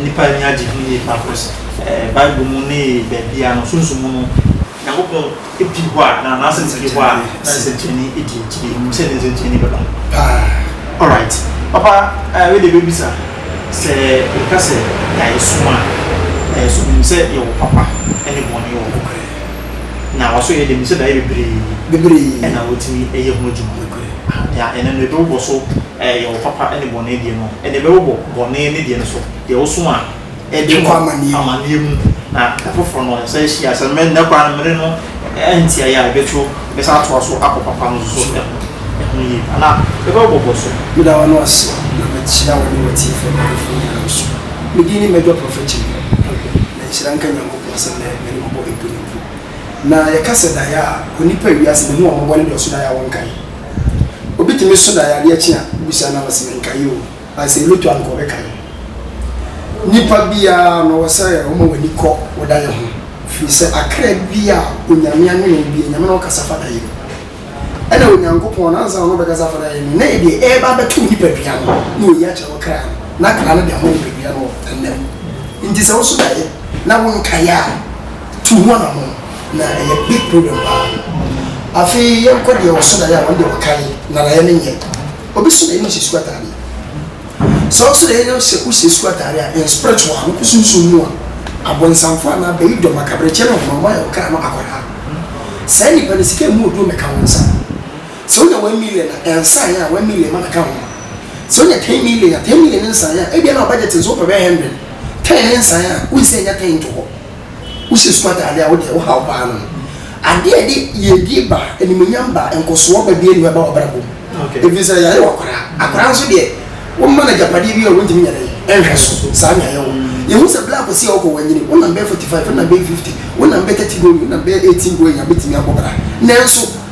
nnipa ani agye ho yie paa cause Bible mu ne baabiara no Sunsum mu no Nyankopɔn pi hɔ a na n'asɛm pi hɔ a na nsɛnkyerɛnne di akyire nim sɛ ne nsɛnkyerɛnne bɛba paa alright papa wei deɛ bɛbisa sɛ yɛka sɛ yɛayɛ som a yɛayɛ som nim sɛ yɛwɔ papa ne bɔne wɔ hɔ Na ɔso yɛ dɛ mu sɛ daeɛ bebree. Bebree. Ɛna wɔtumi yɛ ho adwuma. Nokorɛ. Aha, deɛ ɛnɛ no ɛbɛbobɔ so ɛɛ yɛ wo papa ne bɔne deɛ no, ɛnna ɛbɛbobɔ bɔne ne deɛ no so, deɛ woso a ɛde wo amaneɛ mu, na ɛfoforɔ no ɛsan hyia a, sɛ mmɛ nnɛ koraa no mmere no antiaeɛ a, ɛbɛto, ɛbɛsan atoa so akɔ papa no nso so ɛho, ɛho yie pa, na ɛbɛbobɔ so. Meda w'ano ase, na mahyira wo ne w'atiefo ne m'adɔfo nyinaa nso. Me din ne Major Prophet Kyimprɛ. Na nhyira nka Nyankopɔn. Ɔsan dɛ hɛn mmɔbɔ epon mpo. Na yɛka sɛ dae a, onipa a wiase no hu a ɔmmɔbɔ no dɔɔso dae a wɔnnkae. Obi tumi so dae a ade akye a, wobisa no a ɔse mennkae o, but sɛ elotu a nka ɔbɛkae. Nipa biara no ɔwɔ sɛ ɔma w'ani kɔ wo dae ho, firi sɛ akra bi a Onyame anwene wo bi, Onyame na ɔkasa fa dae mu. Ɛna Onyankopɔn no, ansa na ɔbɛkasa afa n'Ayɛ no ho, na ɛdeɛ ɛreba abɛto wo nipadua no, na ɔyi akyerɛ wo kra no, na kra no de ama nipadua no wɔ nna mu. Nti sɛ woso daeɛ na wonkaeɛ a, tu ho anamɔn, na ɛyɛ big problem paa. Afei yɛnkɔ deɛ ɔso daeɛ a, ɔno deɛ ɔkae, na daeɛ no nyɛ. Obi so daeɛ no hyɛ sukuu ataadeɛ. Sɛ ɔwɔ sɛ ɔyɛ nyam sɛ wohyɛ sukuu atade a, yɛn spiritual a, wokɔ sunsum mu a, abɔnsamfo anaa bayidɔm, akaberɛkyɛ ne ɔhonam ayɛ wo kra no akwadaa. Saa nnipa no, sika a ɛmu yɛ duru mmɛka wɔn nsa. Sɛ wonya one million a, ɛnsa yɛ a, one million ma no ka ho. Sɛ wonya ten million a, ten million nsa yɛ a, ebia na wo budget nso wopɛ bɛyɛ hundred. Ten nsa yɛ a, wonsi annya ten nto hɔ. Wohyɛ sukuu atade a, wo deɛ, wohaw paa no no. Adeɛ a ɛde yiedie ba, animuonyam ba, nkɔsoɔ ba biara nni hɔ a ɛba w'abrabɔ mu. Ɛfiri sɛ, yɛayɛ wo akwadaa. Akwadaa nso deɛ, woma no agyapadeɛ bi a, wontumi nyɛ dɛn? Ɛnhwɛ so. Saa na yɛayɛ wo. Yɛhu sɛ berɛ a kɔsi a wokɔ, woanyini. Wo nam bɛyɛ forty five, wo nam bɛyɛ fifty, wo nam bɛyɛ thirty going, wo nam bɛyɛ eighteen going a, bɛtumi abɔ bra. Nanso.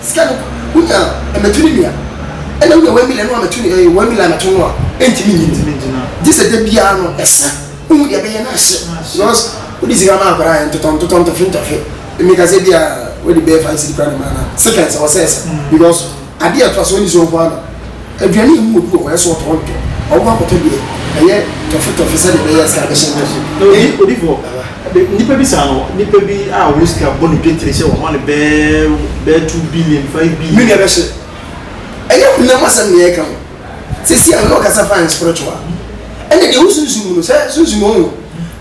Sika no wonya a mɛtu ne nua, ɛna wonya one million no a mɛtu ne one million a mɛto no a ɛntumi nnyina, gyesɛ da biara no ɛsa wohu deɛ ɛbɛyɛ na ahyɛ because wode sika ma akwadaa a ɛntotɔ ntotɔ ntɔhwe ntɔhwe meka sɛ bia wode bɛyɛ five cedi koraa na ɛma no a seconds ɛwɔ sɛ ɛsa because adeɛ a ɛtoaso ɛnni so nkoaa na Aduane yi mu wɔ bi wɔ hɔ a ɛsɛ sɛ ɔtɔ, ɔntɔ. Ɔbɛkɔ akɔtɔ deɛ ɛyɛ tɔfetɔfe sɛdeɛ ɛbɛyɛ a sika no bɛhyɛ ne nan mu. Na odi, odi fɔ. Be, nnipa bi saa no, nnipa bi a wɔn sika bɔ no dwetire sɛ wɔma no bɛɛ, bɛɛ two billion, five billion. Me nua bɛhye. Ɛnyɛ honam asɛm na yɛreka ho. Seesei a, me ne wo kasa fine spiritual. Ɛnna deɛ wo sunsum mu no, sɛ sunsum mu, wohu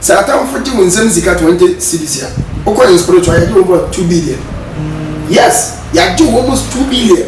sɛ atamfo gye wo nsam sika twenty cedis a, wokɔ yɛn spiritual a, yɛagye wɔn bɔ two billion. Yes! Yɛagye wɔn bɔ two billion.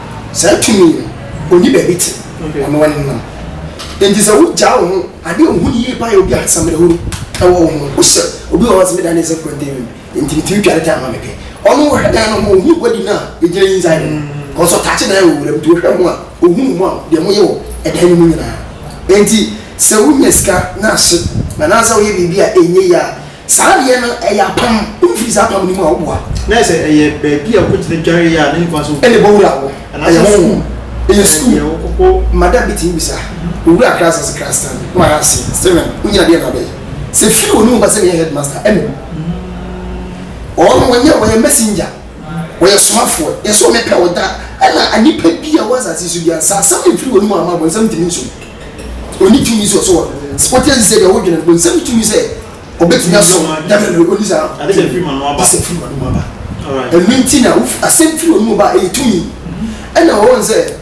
Saa tumi yi no, onni baabi te, ɔno ara ne nam. Enti sɛ wogyaa wo ho ade a wuhu no yiye paa yɛ obi a asamanehunu wɔ wo ho no, wohyɛ obi wɔ hɔ a ɔse, Meda no ase mprɛte awi mu, enti mitumi twa ne time ma mepɛ. Ɔno ɔhwɛ dan no ho, ohu aguadi no a egyina ne nsa ano no, because ɔtaakye dan wɔ wuram, nti ɔhwɛ ho a ohu mo a deɛ moyɛ wɔ dan no mu nyinaa. Enti sɛ wunya sika na ahye, anaasɛ woyɛ biribi a ɛnyɛ yie a, Saa deɛ no ɛyɛ apam. Wo firi saa apam no mu a wo boa. Na ayɛ sɛ ɛyɛ baabi a wokɔ gyina dware yɛ a na nipa nso wɔ mu. Ɛna bɔwura wɔ. Ɛyɛ honhom. Ɛyɛ sukuu. Ɛyɛ deɛ wokɔ kɔ. Mada bi tumi bisa. Owura Kras ase Kras tan na wayɛ ase Steven wo nyina deɛ na wobɛyɛ sɛ firi wɔ no mu ba sɛ meyɛ headmaster ɛna mu ɔɔ no wɔnyɛ wɔyɛ messenger wɔyɛ somafoɔ yɛ sɛ wɔmɛpɛ ɔda ɛna nipa bi a wɔ asase so bia sɛ asɛm no mfiri wɔ no mu a ma abɔnsam ntumi nso. Onni tumi sɛ ɔsɔ wɔn. Wote ase sɛ deɛ wodwene no, bonsam ne tumi sɛ ɔbɛtumi asɔ Nyame no, onni saa. Ade sɛ firi m'ano aba. Ade sɛ firi m'anom aba. Ɛno nti na wofi, asɛm firi w'anom ba a, ɛyɛ tumi. Ɛna wɔwɔ no sɛ,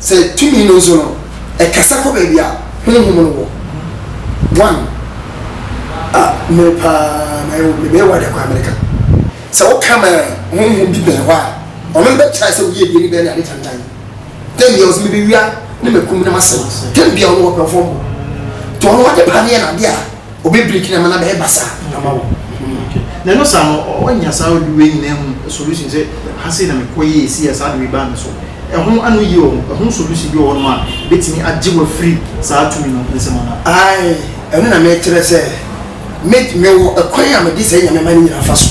sɛ tumi no nso no, ɛkasa kɔ baabi a Honhom no wɔ. One, a, mmere paa mayɛ wo, mebɛyɛ wo ade akɔ Amerika. Sɛ woka ma Honhom bi bɛn hɔ a, ɔno no bɛkyerɛ sɛ woyɛ aduane bɛn ne ade tantan. Tɛm bia ɔsi mebe wia ne me kum ne ma sɛm tɛm bia ɔno ɔpɛ fɔm bɔ to ɔno ɔde pa ne yɛ na de a ɔbɛ break na ma na bɛyɛ basa ama wo. Na ɛno saa no ɔnya saa ɔde wei nyinaa hu solution sɛ ha sei na me kɔ yɛ esi yɛ saa de wei baa me so ɛho ano yie ɔho ɛho solution bi wɔ hɔ nom a betumi agye wɔ firi saa tumi no nsɛm ana. Ae ɛno na mɛkyerɛ sɛ me me wɔ ɛkwan a mede sɛ nyame ma ne nyina fa so.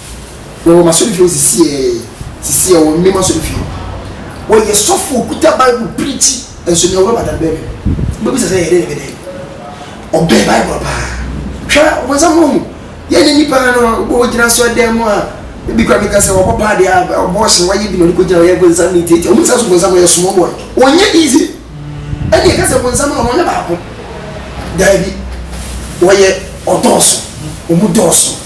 Na wɔ m'asɔrefie hɔ sisi ɛ, sisi ɛ, wɔ mmem asɔrefie, wɔyɛ sɔfo, okuta Bible preachi, nso nea ɔwura Badan bɛn me no. Wobɛbisa sɛ ɛyɛ dɛn na ɛbɛ dɛn? Ɔbɛn Bible paa. Hwɛ ɔbonsam no ɔhu, yɛn nyɛ nnipa no, wobɔ wogyina asɔre dan mu a, ebi koraa meka sɛ wabɔ paa deɛ a, abortion, wayɛ bi na ɔde kɔ gyina hɔ, yɛ bonsam ne ntiatia, ɔmu nsa so bonsam ɔyɛ small boy, ɔnyɛ easy, ɛne yɛka sɛ bonsam na ɔno ɔnyɛ baako, daabi, wɔyɛ, ɔdɔɔso, ɔmu dɔɔso.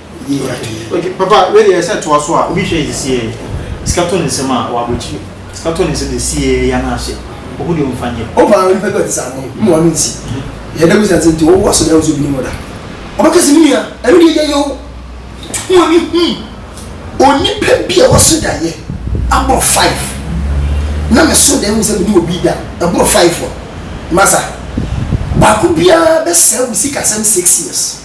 Yie ade. Okay papa wei deɛ sɛ toa so a obi hwɛ yɛ sie sika to ne nsam a wabɔ akyire sika to ne nsam deɛ sie ya no ase ohu deɛ ɔmfa nyɛ. Wo paa nipa bi a ɔte saa no mma ɔno nsi yɛ da busa nti wo wɔ so dɛ wo sɛ obi nim wo da ɔbɛka sɛ me nua ɛno deɛ gya yɛ o tu wɔn ani hu onipa bi a waso da yɛ aboro five na me so da hu sɛ me ne obi da ɛboro five a masa baako biara bɛsɛe wo sikasɛm six years.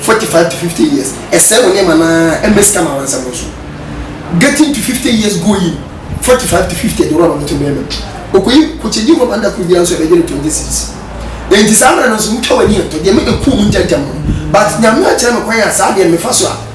forty five to fifty years ɛsɛe wo nneɛma no ara ɛmma sika ma wansɛm wo so getting to fifty years going forty five to fifty ɛde rɔba no to mmarima bi okoyi kokyegye rɔba no da koro biara nso ɛbɛgye no twenty cities enti saa mmerɛ no nso wotwa w'ani ɛtɔ deɛ mɛdɛ kuu mu ntɛntɛm no but nyame akyerɛ me kwan a saa deɛ mefa so a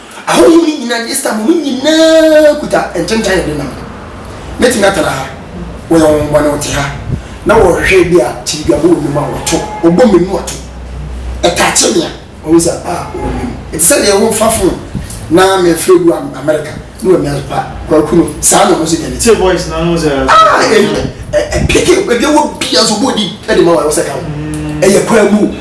Ahonhom no nyina gye Satan mu no nyina kuta nkyentan a ɛdenam no. Mɛtumi atena ha, wɔyɛ honhommɔne wɔte ha, na wɔhwehwɛ bi a kyiridwabɔ wɔ me mu a wɔto, wɔbɔ me mu ato, ɛtakye me a wɔhu sɛ a wɔwɔ me mu. Ɛte sɛ deɛ wo mfa fon na mefrɛ gu Amerika na wɔamia so pa, Kwaku no, saa na ɔno nso deɛ ne te. Ah, ɛpeke, baabi a wɔ biara nso wɔbɔ din de ma wo a ɛwɔ sɛ ɛka wo. Ɛyɛ kwaa mu o.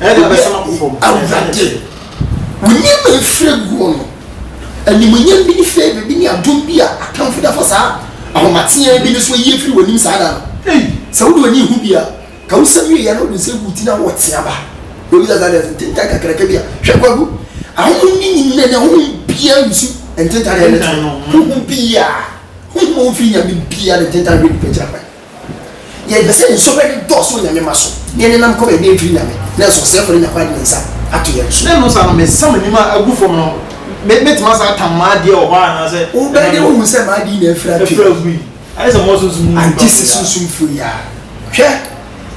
Awurade, wo nneɛma a ɛfiri guo no, animuonyam bi ne favor bi ne adom bi a atamfo de afa saa ahomateaa bi no so ayi afiri w'anim saa da no. Ei, sɛ wode w'ani rehu bi a, ka wo nsɛm wieeɛ na wode wo nsa gu wo ti na wowɔ tea ba. Baabi da saa deɛ nso, ntentan kakraka bi a. Hwɛ, Kwaku, ahonhom no nyinaa ni, ahonhom biara nsu ntentan na ɛne teɛ. Honhom biara, honhom a wɔmfiri Nyame biara ne ntentan hwɛ nnipa akyiri akwan. Yɛpɛ sɛ nsu bɛde dɔɔso Onyame mma so, na yɛn nenam kɔm yɛde adwiri Nyame, nanso ɔsɛefo ne Nyankwa de ne nsa ato yɛn so. Dɛn no saa no, mesa m'anim a agu fam no, me, metumi asan atam m'adeɛ wɔ hɔ a, anaasɛ. Wobɛyɛ dɛn ahu sɛ m'ade nyinaa afiri atwe? Afiri agui. Ayɛ sɛ mowɔ sunsum mu nipa fo yi ara. Agye sɛ sunsum fo yi ara. Hwɛ,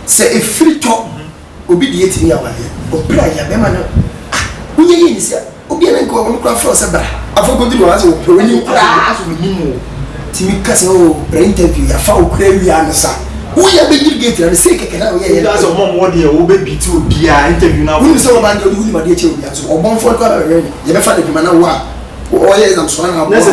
sɛ efiri tɔ. Obi deɛ tumi awadeɛ but bra yia bɛma no ah wonyɛ yie nsia obi a ne nkoa wɔn koraa frɛ wo sɛ bra afei kɔduru hɔ asɛ wɔpɛ w'anim koraa asɛ wɔnim wo tumi ka sɛ oh bra interview yɛafa wo koraa wie ano sa woyɛ abɛduru gate na no sei kɛkɛ na woyɛ yɛ no asɛ ɔmɔ mɔ deɛ wɔbɛ beat wo biaa interview na wonim sɛ wɔba ndeɛ wonim adeɛ kyɛ obiaa nso ɔbɔnfoɔ no koraa bɛwɛn no yɛbɛfa no adwuma na wo a ɔyɛ exam so ana aboa ɛyɛ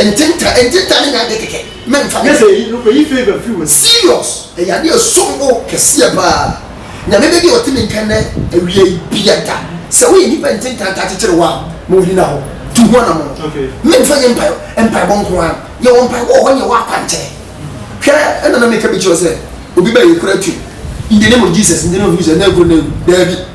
ntentan ntentan ne nyɛ adeɛ kɛkɛ mɛmfa ne serious. Ɛyɛ ade a ɛsom bo kɛseɛ pa ara. Nyame bɛ deɛ ɔte me nka nnɛ awia yi bia da. Sɛ woyɛ nnipa nte nka ntaa kyekyere wo a, ma ɔnyina hɔ. Tu ho anamono. Me mfa nyɛ mpae mpaebɔ nko ara. Yɛ wɔ mpaebɔ wɔ hɔ nyɛ wɔ akwankyerɛ. Hwɛ ɛna na meka bi kyerɛ wo sɛ obi bɛ yɛ kura twi in the name of Jesus in the name of Jesus na ɛkuro na ɛwu. Daabi.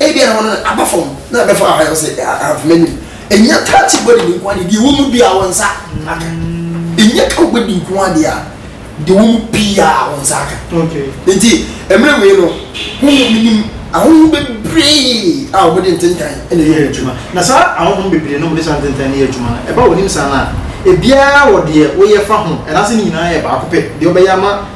Ebia na wɔn aba fam na ɛbɛfa ɔha yɛ sɛ ahemfo m'anim. Ɛnyɛ taa ti bɔ didi nko ara deɛ ɛwɔ mu biara wɔn nsa aka. Ɛnyɛ ka bɔ didi nko ara deɛ deɛ ɛwɔ mu pii a wɔn nsa aka. Nti mmerɛ wei no ho mu menim ahohom bebree a wɔn de ntentan na ɛyɛ wɔn adwuma. Na saa ahohom bebree na wɔn de saa ntentan no yɛ adwuma no ɛba wɔn nim saa no a ebiara wɔ deɛ wɔyɛ fa ho ɛna sɛ ne nyinaa yɛ baako pɛ deɛ wɔbɛyɛ ama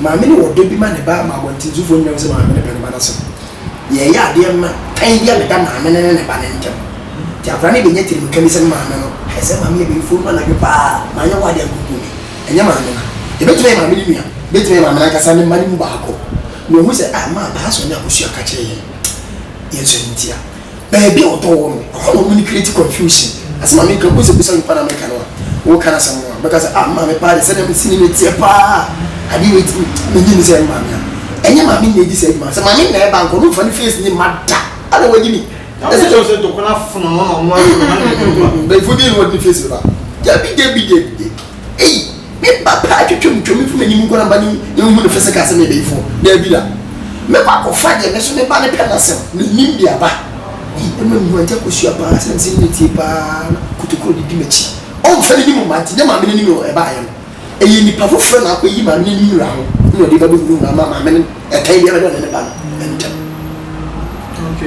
Maame no wɔ ɔdɔ bi ma ne ba ma abɔntentufoɔ nyinaa hu sɛ maame no pɛ ne ba no asɛm. Yɛyɛ adeɛ ma tan bi a meda maame no ne ne ba no ntam. Nti akwadaa no bɛnya tirimka bi sɛ me maame no pɛ sɛ maame yɛ bɛmfo no anadwo pa ara, manyɛ hɔ adeɛ a ankunkum me. Ɛnyɛ maame no. Ɛbɛtumi ayɛ maame no nua, ɛbɛtumi ayɛ maame no ankasa ne mma no mu baako na ɔhu sɛ, ah, maa paa sɔnn abusua ka kyerɛɛ yɛn, yɛn sɔnn ntia. Baabi a wɔtɔn wɔ no, ɛhɔ na wɔn create confusion. Asɛm a meka, wobisa bisa nipa na meka no a, woka no asɛm no a, ɔbɛka sɛ, ah, maame paa deɛ sɛdeɛ me sini no teɛ paa, adeɛ wei ti, mennye nni sɛ ɛyɛ me maame a. Ɛnyɛ maame na ɛdi saa dwuma, sɛ maame na ɛba anka, ɔno mfa ne face nni mma da, ana wagye ni? Na wobɛka kyerɛ no sɛ ntɔkwa no afono no na ɔno ara de ne nan na ɛgu hɔ a. Mpanimfoɔ deɛ na wɔde ne face bɛba, dabi dabi dabi dabi, ei. Me ba paa twitwa mu twa mu fi m'anim nkɔ na meba ne ne nhu no physical sɛ meyɛ bayifoɔ. Daabi da. Mɛkɔ akɔfa deɛ me nso me ba no pɛ no asɛm menim de aba. Ei ɛma mehu Auntie Akosua paa sɛdeɛ mesɛ menyɛ tie paa na Kotokuro de di m'akyi. Ɔmfa n'anim mma nti nyɛ maame no anim na ɛbaeɛ no. Ɛyɛ nipa foforɔ na akɔyi maame no anim wura ho na ɔde ba bɛhunu no ama maame no ɛtan biara bɛda ɔne ne ba no ntam.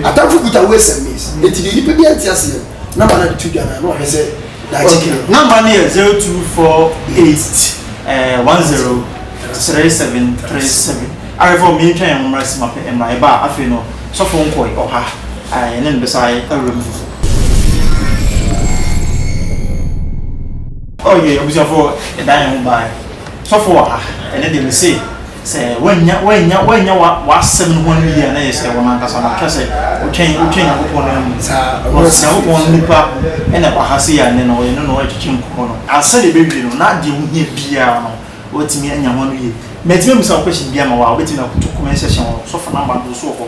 Atamfo kuta ways and means nti deɛ nipa biara nte aseɛ no. na ma na tu dwa na na ɔhwɛ sɛ daakye kɛ. Namba no yɛ zero two four eight ɛɛ one zero three seven three seven. Awɛfoɔ mi ntwa yɛn ho mmra si ma pɛ mmra ɛba a afei no sɔfo nkɔe ɔha ɛɛ yɛne no bɛsa ayɛ awura mu. Ɔyɛ abusuafoɔ ɛdan yɛn ho baa sɔfo wɔ ha ɛne deɛ me se. Sɛ woannya woannya woannya wa w'asɛm no ho anim yie a na yɛ sɛ wɔn ankasa no atwa sɛ wotwɛn wotwɛn Nyankopɔn no amu. Because Nyankopɔn no nipa ɛna ɛwɔ ha sei a nnɛ no yɛne no ɛtwetwe nkɔmmɔ no ansa na ɛbɛwie no na deɛ wohia biara no woatumi anya ho anim yie. Matumi ammisa wo question biara ama wo a wobɛtumi akoto comment section hɔ, Ɔsɔfo number no nso wɔ hɔ.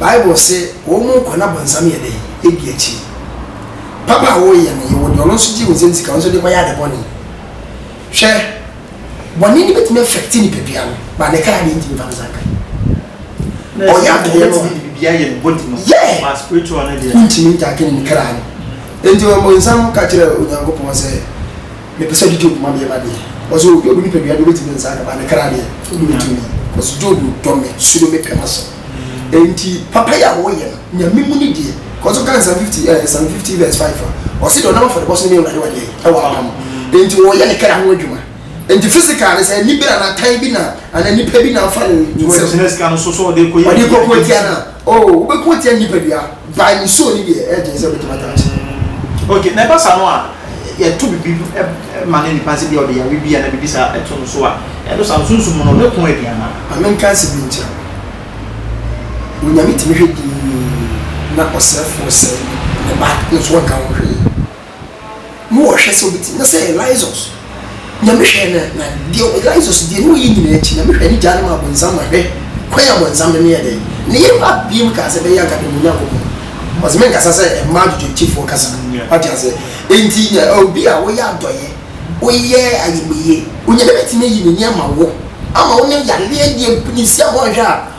Bible se, Wɔn mu nkwa no abɔnsam yɛ dɛn? Edi akyiri. Papa a woreyɛ no, yɛwɔ deɛ ɔno nso gyee wo nsam sika, wo nso wode rekɔyɛ ade bɔne. Hwɛ, bɔne no bɛtumi affect nipadua no, but ne kra deɛ ntumi mfa ne nsa nka. Na ɛsɛ sɛ deɛ no a, yeah, wontumi ntake ne kra no. Enti ɔbɔnsam ka kyerɛɛ Onyankopɔn sɛ, Mepɛ sɛ ɔde Job ma me yɛ m'adeɛ cause obi a ɔwɔ nipadua deɛ ɔbɛtumi ne nsa akaba ne kra deɛ ɔntumi cause Job dɔ me, suro me, pɛ m'asɛm ɛnti papayɛ a ɔyɛ no Nyame mu ni deɛ cause wokan Psalm 50 eh, Psalm 50 verse 5 a ɔse deɛ ɔnam afɔrebɔ so no ne Awurade wɔ deɛ ɛwɔ apa no ɛnti ɔyɛ ne kra ho adwuma ɛnti physical no sɛ anibere anaa tan bi na anaa nipa bi na afa ne nsam ɔde kɔko atia no a. O, wobɛko atia ne nipadua. By ne soul no deɛ, ɛyɛ den sɛ wobɛtumi ataakye no. Ok, na ɛba saa no a, yɛto biribi ma no nipa no, sɛ bia ɔde yare bi anaa biribi saa to no so a, ɛno saa no Sunsum mu no, ɔno ɛko aduan no a. Ma menka nsɛm bi nkyerɛ wo. Onyame tumi hwɛ dinn na ɔsɛefoɔ sɛe ne ba, no nso ɔnka ho hwee. Mowɔ hwɛ sɛ obetumi? Na sɛ Eliseus, Nyame hwɛɛ no ɛ, na deɛ ɔ, Eliseus deɛ ne ɔyɛ nyinaa akyi, Nyame hwɛɛ no gyaa no maa bonsam ma hwɛ, kwan a bonsam de no yɛ dɛn? Ne yere ba biem kaa sɛ, Bɛyɛ anka deɛ mo Nyankopɔn, ɔse menkasa sɛ mmaa dwodwontifoɔ kasa, wate aseɛ, enti nya obi a woyɛ adɔeɛ, woyɛ ayamyie, Onyame betumi ayi ne yɛ ama wo, ama wo ne yareɛ deɛ bnisia ho anhwɛ a,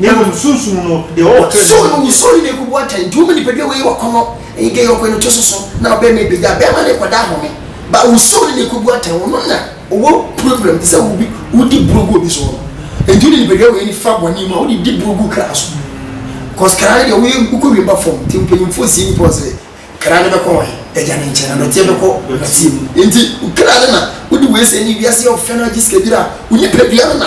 Na mmom Sunsum no deɛ ɔwɔ tɛnɛn So no wusuro ne n'akubu atɛn, nti woma nipadua wei ɔkɔnnɔ, ɛyigɛyi ɔkɔɛ no to soso, na ɔbɛma ɛbɛgya bɛɛma ne nkwadaa home ba wusuro ne n'akubu atɛn, ɔno na ɔwɔ problem te sɛ wobi wodi buro gu obi soɔ no, nti wode nipadua wei no fa bɔne mu a wode di buro gu kra so, cos kra no deɛ woyɛ wokɔ wiem ba fam, nti mpanyimfoɔ sie nipa hɔ sɛ kra no bɛkɔ wɔn he? Agya no nkyɛn, na dɔteɛ bɛkɔ dɔteɛ mu, nti wo kra no na wode wei sɛ ne wiase yɛ ɔfɛ no agye sika biara a wo nipadua no na.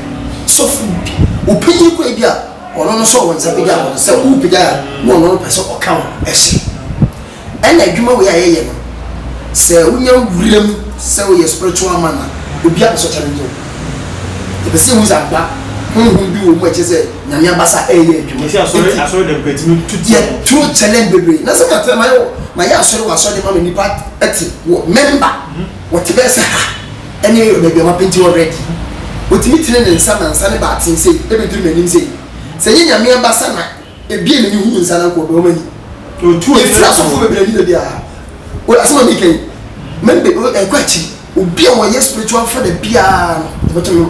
sɔfo no bi. Obi yi kɔ ebi a ɔno no sɔɔ wɔn nsa pagya wɔn no sɛ wɔpagya a na ɔno no pɛ sɛ ɔka ho hyɛ. Ɛna adwuma wei a yɛyɛ no sɛ wonya wura mu sɛ woyɛ spiritual man a obi a pɛ sɛ ɔkyɛlɛngye wo. Yɛpɛ sɛ yɛhu sɛ ampa honhom bi wɔ mu a ɛkyɛ sɛ Nyame abasa ɛyɛ adwuma. Nti asɔre asɔre dɛm kɔ etimi tu tiɛ wɔn. Yɛtu challenge bebree na sɛ matena mayɛ wɔ mayɛ asɔre wɔ asɔre de ma me nipa ɛte wɔ member wɔte bɛyɛ sɛ ha. Ɛne baabi a wɔapenti hɔ red yi. Otumi tene ne nsa ma nsa no ba aten sei, ɛbɛduru m'anim sei. Sɛ ɛnyɛ Nyame abasa na ɛbue m'ani hunu nsa no a, nka ɔbɛwɔ m'ani. Yɛfiri asɔfoɔ bebree ani baabiara. Wote asɛm a mereka yi? Mɛn be, ɛnkɔ akyiri. Obi a ɔyɛ spiritual father biara no, ɔbɛtumi,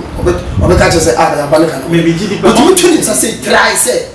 ɔbɛka akyerɛ sɛ, ah, yɛn ba no ka nokorɛ. Otumi to ne nsa sei, try sɛ.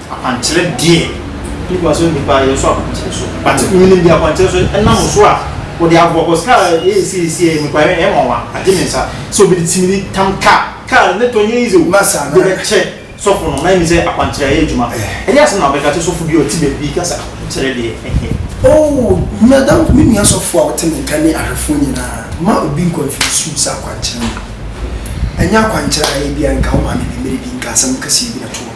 Akwankyerɛ deɛ nnipa so nnipa yɛ so akwankyerɛ so but menim deɛ akwankyerɛ so ɛnam so a wɔde aboa cause car yɛyɛ series yɛ mekɔ ayɛ ɛyɛ nwanwa agye me nsa sɛ obi de timi de tam car car ne tɔ nyɛ easy o de bɛkyɛ sɔfo no na ɛnim sɛ akwankyerɛ ayɛ adwuma ɛnyɛ asɛm na wobɛka kyɛ sɔfo bi a ɔte baabi ka sɛ akwankyerɛ deɛ ɛnyɛ Oh madam me nua sɔfo a wote me nka ne ahwɛfoɔ nyinaa mma obi nkɔ mfiri sɛ akwankyerɛ no ɛnyɛ akwankyerɛ a ɛyɛ biara nka wo maame bi mmere bi nka asɛm kɛseɛ bi na to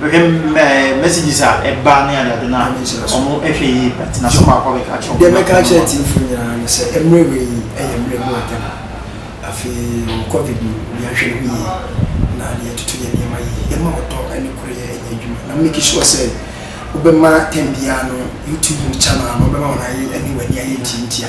Mehwɛ ɛɛ messages a ɛba ne ade ade no a, wɔn hwɛ yie paa nti n'asɛm baako a ɔbɛka akyerɛ wɔn. Deɛ mɛka akyerɛ atiefo nyinaa ne sɛ mmerɛ wei yi yɛ mmerɛ mu ade no. Afei yɛwɔ covid mu, obiara nhwɛ ne ho yie na yɛtoto yɛn nneɛma yie, yɛma ɔdɔ ne koreyɛ nyɛ adwuma na make sure sɛ wobɛma time biara no YouTube mu channel no wobɛma wɔn ayɛ ne w'ani ayɛ ntiantia.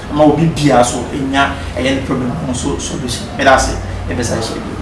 Ɛma obi biara so nya ɛyɛ ne problem ho so solution. Meda ase, yɛbɛsan hyia bio.